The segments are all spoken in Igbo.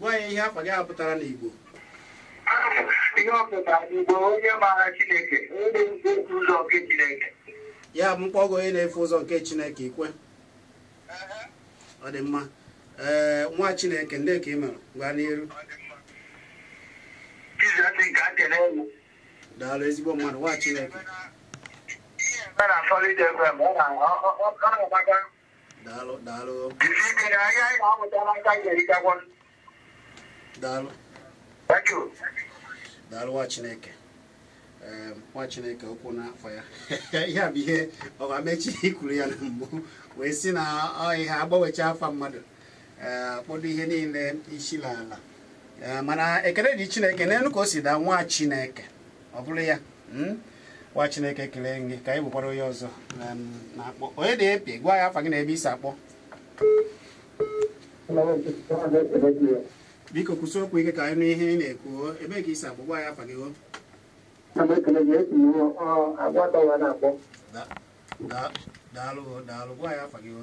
gwa anyị ihe afa gị a pụtara n'Igbo ihe ọ pụtara n'Igbo onye maara Chineke onye na-efe ụzọ nke Chineke ya bụ mkpọgo onye na-efe ụzọ nke Chineke ikwe ọ dị mma ee nwa Chineke ndị ka ị mere gawa n'iru daalụ ezigbo mmadụ nwa Chineke daalụ daalụ daalụ daalụ nwa chineke nwa chineke okwu n'afọ ya ihe a bụ ihe ọbamechi kwuru ya na mbụ wee sị na ihe agbanwecha afa mmadụ akpọdo ihe niile isi n'ala mana ekele dị chineke n'elu ka o si daa nwa chineke ọ bụrụ ya hmm? nwa chineke ekele gị ka anyị wekwara onye ọzọ um, na-akpọ onye dị epi gwa anyị afa gị na ebe i si akpọ biko kwusie okwu ike ka anyị nụ ihe ị na-ekwu ebe ka i si akpọ gwa anyị afa gị o daalụ daalụ gwa anyị afa gị o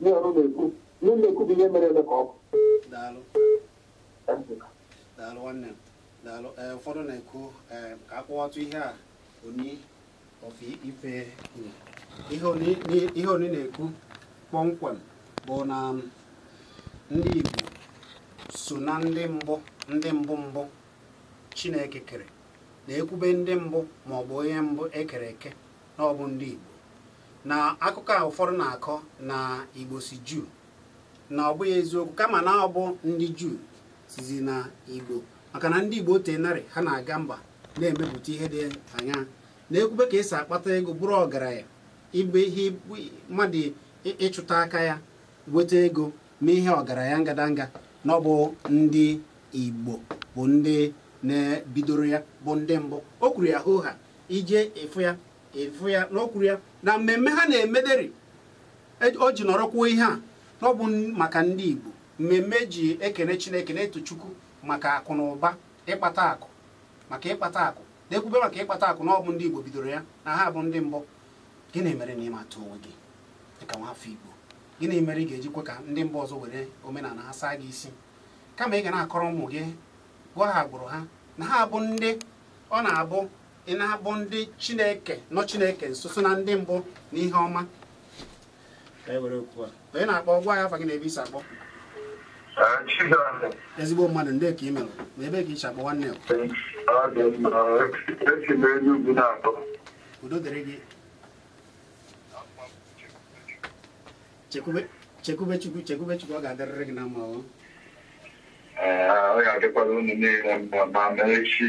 ihe ọrụ na-ekwu ihe na-ekwu bụ ihe mere eme ka ọkụ daalụ daalụ nwanne daalụ eh, ụfọdụ na-ekwu eh, ka a kọwatụ ihe a Ooni of Ife kwuru ihe Ooni ni- ihe Ooni na-ekwu kpọmkwem bụ na mm, ndị Igbo so na ndị mbụ ndị mbụ mbụ Chineke kere na-ekwube ndị mbụ ma ọ bụ onye mbụ e kere eke na ọ bụ ndị Igbo na akụkọ a ụfọdụ na-akọ na igbo si juu na ọ bụghị eziokwu kama na ọ bụ ndị juu sizi na igbo maka na ndị igbo o teenarị ha na-aga mba na-emepụta ihe dị anya na-ekwube ka e si akpata ego bụrụ ọgaranya ịbụ ihe mmadụ ịchụta aka ya weta ego mee ihe ọgaranya ngadanga na ọ bụ ndị igbo bụ ndị bidoro ya bụ ndị mbụ o kwuru ya hoo ha ije ịfụ ya ịfụ ya na o kwuru ya na mmemme ha na-emederi e- o ji nọrọ kwuo ihe a na ọ bụ n- maka ndị Igbo mmemme e ji ekene Chineke na-eto Chukwu maka akụ na ụba ịkpata akụ maka ịkpata akụ na-ekwube maka ịkpata akụ na ọ bụ ndị Igbo bidoro ya na ha bụ ndị mbụ gịnị mere na ị matụ onwe gị dịka nwafọ Igbo gịnị mere ị ga-eji kwe ka ndị mba ọzọ were omenala ha saa gị isi kama ị ga na-akọrọ ụmụ gị gwa ha agbụrụ ha na ha bụ ndị ọ na-abụ ị na-abụ ndị chineke nọ chineke nso so na ndị mbụ na ihe ọma ka e were oku a onye na-akpọ gwa anyị afa gị na ebe i si akpọ ezigbo mmadụ ndị ka ị mere na ebe ka i si akpọ nwanne udo dịrị gị chekwube chukwu chekwube chukwu ọ ga-adịrịrị gị na mma ọ ga-adịkwara unu niile mma ma mee echi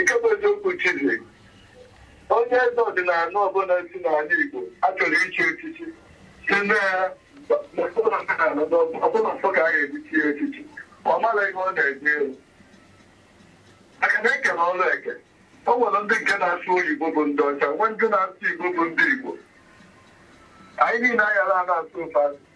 nke bụ eziokwu chizi onye eze ọdịnala ọbụla si n'ala Igbo a chọrọ ichi echichi sị na ọ bụ ala nsọ ka a ga-eje ichi ya echichi ọ mara ihe ọ na-eje elu maka na e kelu ọrụ eke o nwere ndị nke na-asụ oyibo bụ ndị ọcha nwee ndị na-asụ igbo bụ ndị igbo anyị niile anyara a na-asụ ụfọdụ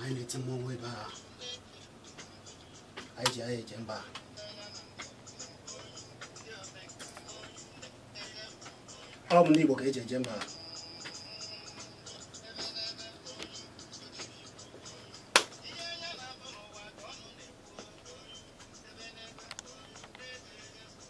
anyị na-eti mmọnwụ ebe a anyị ji anyị eje mba ọ bụ ndị Igbo ka e ji eje mba